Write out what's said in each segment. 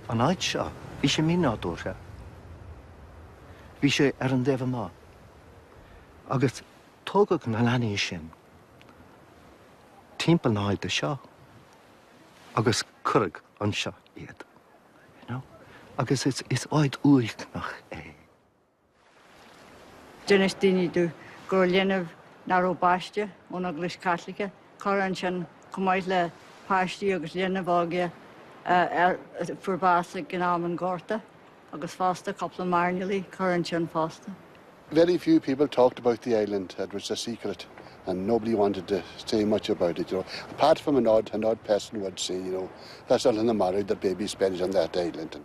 An áit seo, bhí sé mínádúrtha. Bhí sé ar an dtaobh amach. Agus tógadh na leanaí sin timpeall na háite seo agus cuireadh anseo iad. You know? Agus is áit uaigneach é. D'inis daoine dó go raibh linbh nach raibh baiste ón Eaglais Chaitliceach curtha ansin, chomh maith le páistí agus linbh óga a fuair bás in am an Ghorta, agus fosta cúpla mairnéalaigh curtha ansin fosta. Very few people talked about the island, it was a secret and nobody wanted to say much about it, you know, apart from an odd, an odd person would say, you know, that's Oileán na Marbh, the babies buried on that island.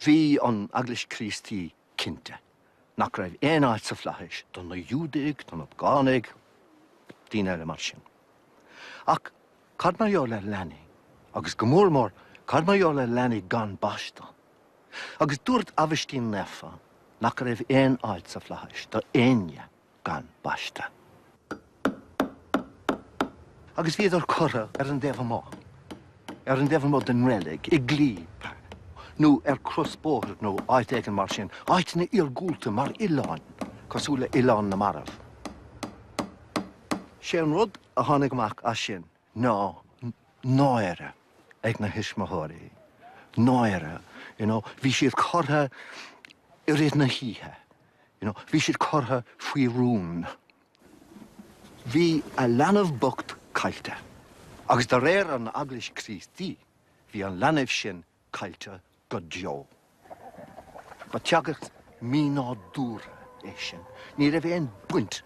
Bhí an Eaglais Críostaí cinnte nach raibh aon áit sa Flaithis do na Iúdaigh, do na Págánaigh, daoine eile mar sin. Ach cad mar gheall ar leanaí? Agus go mór mór, cad mar gheall ar leanaí gan baisteadh? Agus dúirt Aibhistín Naofa nach raibh aon áit sa Flaithis do éinne. gan baiste. Agus bhíodar curtha ar an dtaobh amach, ar an dtaobh amuigh den reilig, i gclaí, nó ar crosbhóthar nó áit éigin mar sin, áiteanna iargúlta, mar oileáin, cosúil le hOileán na Marbh. Sé an rud a tháinig amach as sin. ná náire ag na thuismitheoirí, náire, you know, bhí siad curtha i rith na hoíche, you know, bhí siad curtha faoi rún. Bhí a leanbh bocht caillte. Agus de réir an Eaglais Críostaí, bhí an leanbh sin caillte go deo. Ba teagasc mínádúrtha é sin. Ní raibh aon baint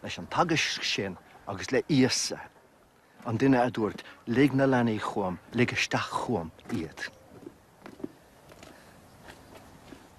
leis an teagasc sin agus le Íosa, an duine a dúirt, 'Lig na leanaí chugam, lig isteach chugam iad.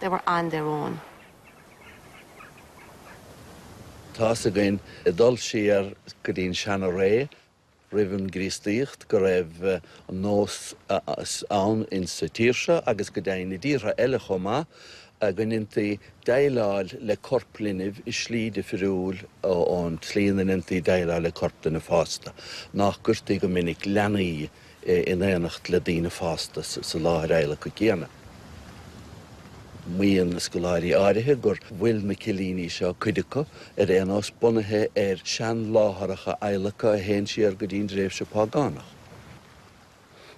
They were on their own. Tá's againn, ag dul siar go dtí an seana-ré, roimh an gCríostaíocht, go raibh an nós ann in sa tír seo, agus go deimhin i dtíortha eile chomh maith, go ndéantaí déileáil le corp linbh i slí difriúil ón tslí ina ndéantaí déileáil le corp duine fásta. Nach gcuirtí go minic leanaí. in éineacht le daoine fásta sa láthair adhlactha céanna. Maíonn scoláirí áirithe gur bhfuil na cillíní seo, cuid acu, ar aon nós, bunaithe ar shean-láthaireacha adhlactha a théann siar go dtí an dtréimhse seo Págánach,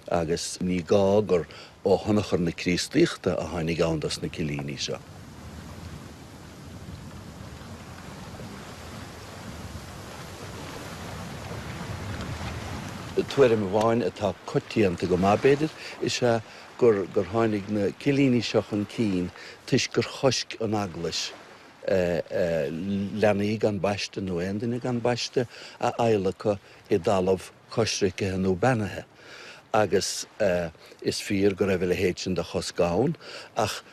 agus ní gá gur ó thionchar na Críostaíochta a tháinig ann dos na cillíní seo. Tuairim amháin, atá coitianta go maith, b'fhéidir, is ea gur tháinig na cillíní seo chun cinn toisc gur choisc an Eaglais leanaí gan baiste, nó aon duine gan baiste, a adhlacadh i dtalamh. coisricthe nó beannaithe, agus is fíor go raibh a leithéid sin de chosc ann, ach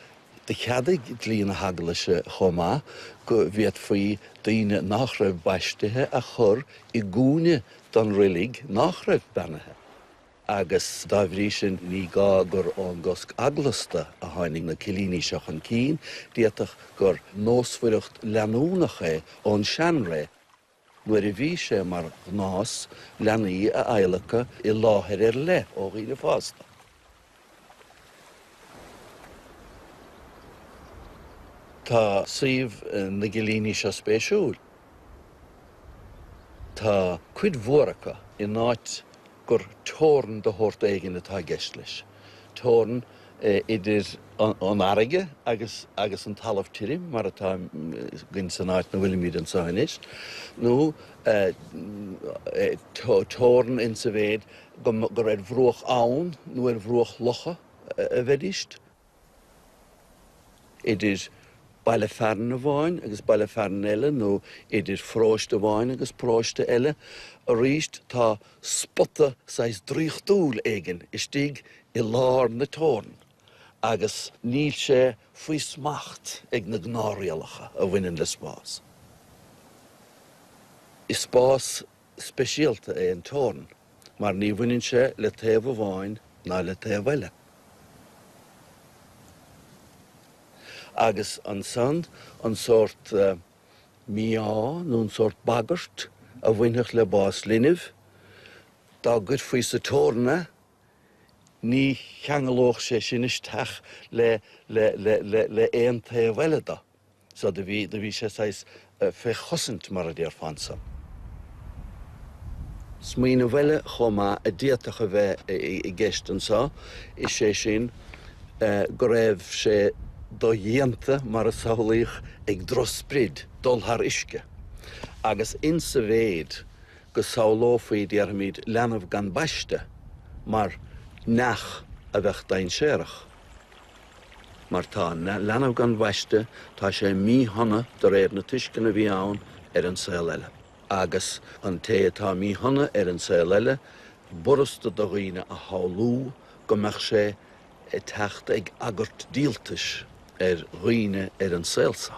do cheadaigh dlí na hEaglaise chomh maith go bhféadfaí daoine nach raibh baistithe a chur i gcúinne den reilig nach raibh beannaithe, agus dá bhrí sin ní gá gur ón gcosc eaglasta a tháinig na cillíní seo chun cinn, d'fhéadfadh gur nósmhaireacht leanúnach é ón seanré. Nuair a bhí sé mar ghnás leanaí a adhlacadh i láthair ar leith ó dhaoine fásta, Tá suíomh na gcillíní seo spéisiúil. Tá cuid mhór acu in áit gur teorainn de shórt éigin atá i gceist leis. Teorainn idir an fharraige agus agus an talamh tirim, mar atá againn san áit ina bhfuilimid anseo anois, nó teorainn insa mhéid gur ar bhruach abhann nó ar bhruach locha a bheidís. idir baile fearainn amháin agus baile fearainn eile nó idir paróiste amháin agus paróiste eile. Arís, tá spota saghas draíochtúil éigin istigh i lár na teorann agus níl sé faoi smacht ag na gnáthrialacha a bhaineann le spás. Is spás. speisialta é an teorainn mar ní bhaineann sé le taobh amháin ná le taobh eile, agus ansan an sórt mí-ádh nó an sórt bagairt a bhainfeadh le bás linbh dá gcuirfí sa teorainn é, ní cheanglódh sé sin isteach le aon taobh eile de. So, do bhí sé saghas fé chosaint mar a déarfá anso. Smaoineamh eile chomh maith a d'fhéadfadh a bheith i gceist anso, is é sin go raibh sé dodhéanta, mar a samhlaíodh, ag drochsprid dul thar uisce. Agus insa mhéid go samhlófaí, déarfaimid, leanbh gan baiste mar neach a bheadh dainséarach, Mar tá an leanbh gan bhaisteadh, tá sé míshona de réir na tuisceana a bhí ann ar an saol eile. Agus an té atá míshona ar an saol eile, b'fhurasta do dhaoine a shamhlú go mbeadh sé ag teacht ag agairt díoltais ar dhaoine ar an saol seo.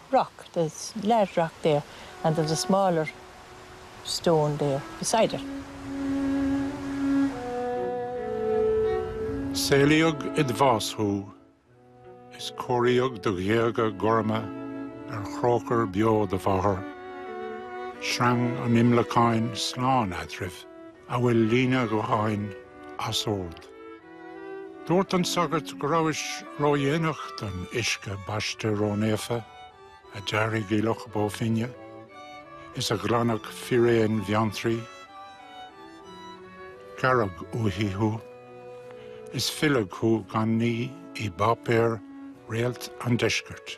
rock, there's large rock there and there's a smaller stone there beside it. Saolaíodh id bhás thú, is cóiríodh do ghéaga gorma ar chróchar beo do mháthar. Sreang an imleacáin slán eadraibh, amhail líne ghutháin as ord. Dúirt an sagart go rabhais ródhéanach don uisce baiste rónaofa a d'éirigh i Loch Bó Finne is a ghlanadh fíréin Bheanntraí. Gearradh uaithi thú, is filleadh thú gan ní i bpáipéar Réalt an Deiscirt.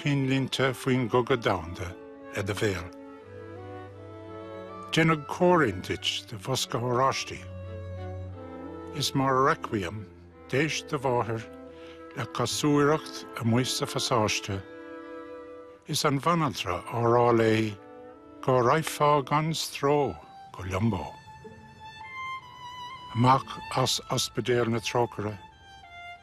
cinnlínte faoin gcogadh domhanda le do bhéal. Déanadh comhrainn duit de bhosca oráistí. Is mar requiem d'éist do mháthair le casúireacht amuigh sa phasáiste is an bhanaltra á rá léi go raghfá gan stró go liombó. Amach as Ospidéal na Trócaire.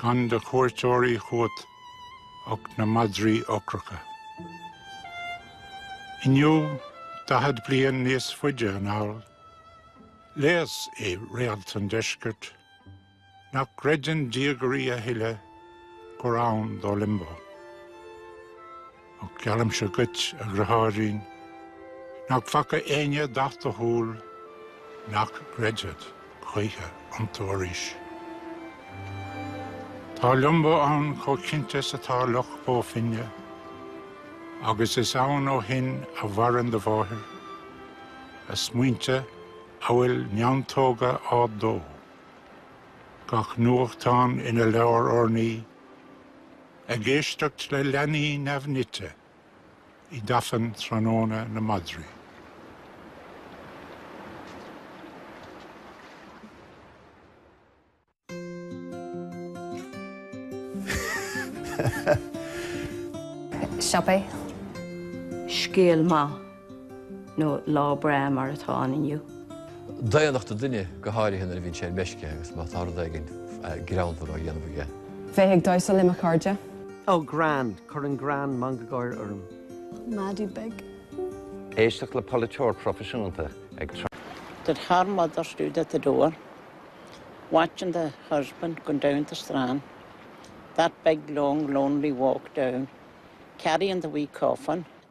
gan de chuairteoirí chugat ach na madraí ocracha. Inniu, daichead bliain níos faide anall, léas i Réalt an Deiscirt nach gcreideann diagairí a thuilleadh gur ann do Liombó. Ach geallaimse dhuit, a dhriotháirín, nach bhfaca éinne dath do shúl nach gcreidfead choíche iontu arís. Tá liombó ann chomh cinnte is atá Loch Bó Finne, agus is ann ó shin a mhaireann do mháthair, a smaointe amhail neantóga á dó, gach nuachtán ina leabhar urnaí, Ag éisteacht le leanaí neamhnite i dtafann tráthnóna na madraí. siopaí. scéal maith. nó lá breá mar atá ann inniu. daonnacht an duine, go háirithe nuair a bhíonn sé ar meisce agus má tá rud éigin greannmhar á dhéanamh aige. bheith ag damhsa le mo chairde. oh greann! cuireann greann mangagáir orm. madaí beaga. éisteacht le polaiteoir proifisiúnta ag. that her mother stood at the door watching the husband going down the strand that big long lonely walk down carrying the wee coffin.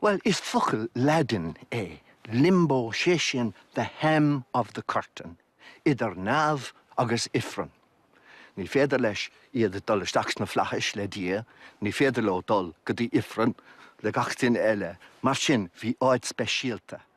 Bhuel, is focal Laidin é limbo, sé sin the hem of the curtain, idir neamh agus ifreann. Ní féidir leis, iad, dul isteach sna flaithis le Dia, ní féidir leo dul go dtí ifreann le gach duine eile, mar sin bhí áit speisialta,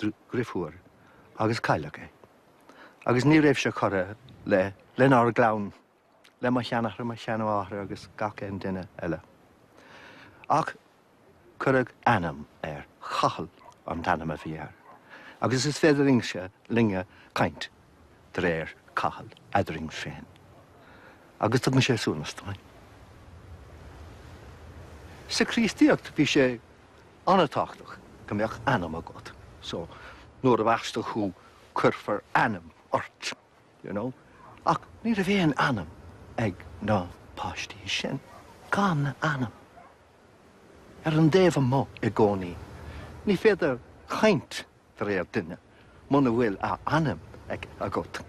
drifiúr agus cailleadh é. Agus ní raibh sé curtha le, lenár gclann, le mo sheanathair, mo sheanmháthair agus gach aon duine eile. Ach cuireadh ainm air, Cathal an t-ainm a bhí air. Agus is féidir liomsa, linne, caint i dtaobh Cathal eadrainn féin. Agus tugann sé suaimhneas dúinn. Sa Chríostaíocht bhí sé An-tábhachtach go mbeadh ainm agat so nuair a bhaistfear thú cuirfear ainm ort you know ach ní raibh aon ainm ag na páistí sin. Gan ainm. Ar an dtaobh amuigh i gcónaí. Ní féidir caint i dtaobh duine muna bhfuil a ainm ag, agat,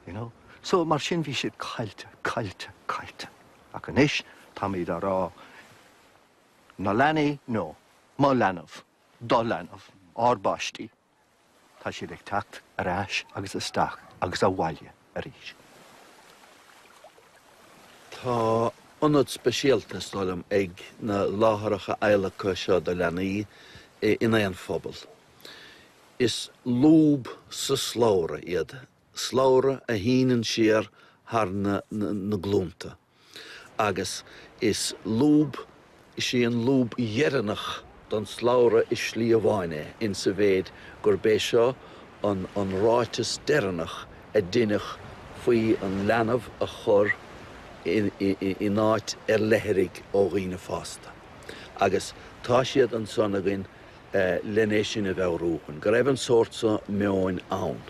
you know. So mar sin bhí siad caillte, caillte, caillte. Ach anois táimid á rá Na leanaí nó mo leanbh, do leanbh, ár bpáistí, tá siad ag teacht ar ais agus isteach agus abhaile arís. Tá ionad speisialta, is dóigh liom, ag na láthaireacha adhlactha seo do leanaí in aon phobal. Is lúb sa slabhra iad, slabhra a shíneann siar thar na glúnta. agus is lúb Is í an lúb dheireanach den slabhra i slí amháin é, in sa mhéid gurb é seo an ráiteas deireanach a deineadh faoi an leanbh a chur in áit ar leithrigh ó dhaoine fásta. Agus tá siad ansan againn len é sin a mheabhrú dúinn go raibh an sórt seo meoin ann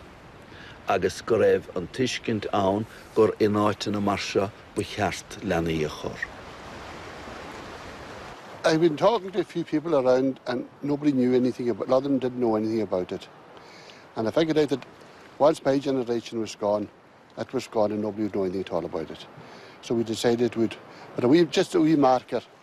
agus go raibh an tuiscint ann gur in áiteanna mar seo ba cheart leanaí a chur. I have been talking to a few people around and nobody knew anything about, a lot of them didn't know anything about it and I figured out that once my generation was gone, it was gone and nobody would know anything at all about it. So we decided we'd put a wee, just a wee marker.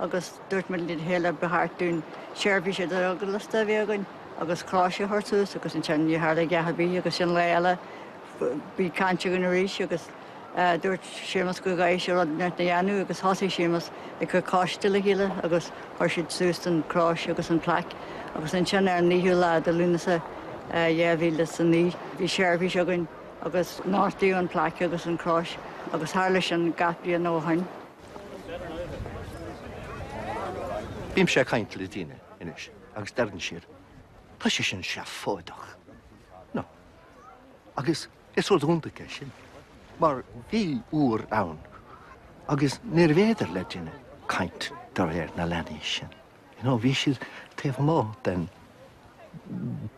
agus dúirt muid lena chéile ba cheart dúinn seirbhís idir-eaglasta a bheith againn agus crois a chur suas agus ansin níor tharla a dhath ar bith agus ansin lá eile bhí caint againn arís agus dúirt Séamus go gcaithfí rud inteacht a dhéanamh agus thosaigh Séamus ag cur coiste le chéile agus chuir siad suas an chrois agus an plaic agus ansin ar an naoiú lá de Lúnasa 2009 bhí seirbhís againn agus nochtadh an plaic agus an chrois agus tharla sin gach bliain ó shoin. Bímse ag caint le daoine anois agus deireann siad, Tá sé sin seafóideach. No. Agus is rud iontach é sin, mar bhí uair ann agus níorbh fhéidir le duine caint de réir na leanaí sin. You know, bhí siad taobh amuigh den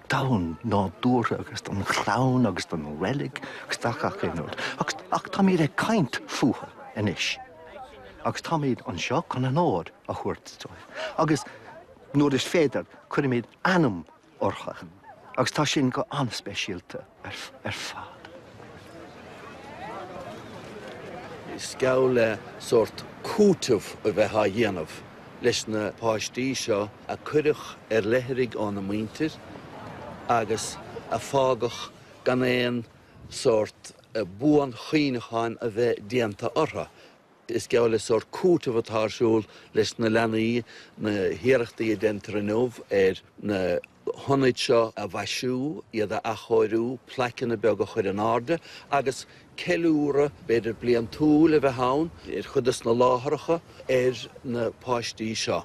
domhan nádúrtha agus den chlann agus den reilig agus de gach aon rud, ach táimid ag caint fúthu anois agus táimid anseo chun onóir a thabhairt dóibh agus nuair is féidir, cuirimid ainm orthu, agus tá sin go an-speisialta ar fad. Is geall le sórt cúiteamh a bheith á dhéanamh leis na páistí seo a cuireadh ar leithrigh óna muintir agus a fágadh gan aon sórt buanchuimhneacháin a bheith déanta orthu. Is geall le sórt cúiteamh atá ar siúl leis na leanaí na hiarrachtaí a déantar inniu ar na hionaid seo a mhaisiú, iad a athchóiriú, plaiceanna beaga a chur in airde agus ceiliúradh, b'fhéidir bliantúil, a bheith ann ar chuid des na láthaireacha ar na páistí seo.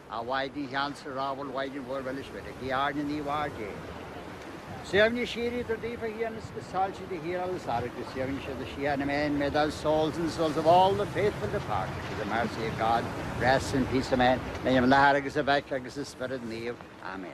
A Mhaighdean cheansa ghrámhar a Mhaighdean Mhór Mhilis Mhuire guigh orainn a Naomh-Mháthair Dé. Suaimhneas síoraí tabhair daofa a Thiarna agus soilsí do shíorsholas orthu. Go suaimhní siad i síocháin. Amen. May their souls and the souls of all the faithful departed through the mercy of God rest in peace. Amen. In ainm an Athar agus an Mhic agus an Spioraid Naoimh. Amen.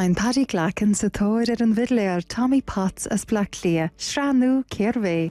Téann Paddy Glackin sa tóir ar an bhfidléir Tommy Potts as Bleá Cliath, sraith nua 'Cérbh É?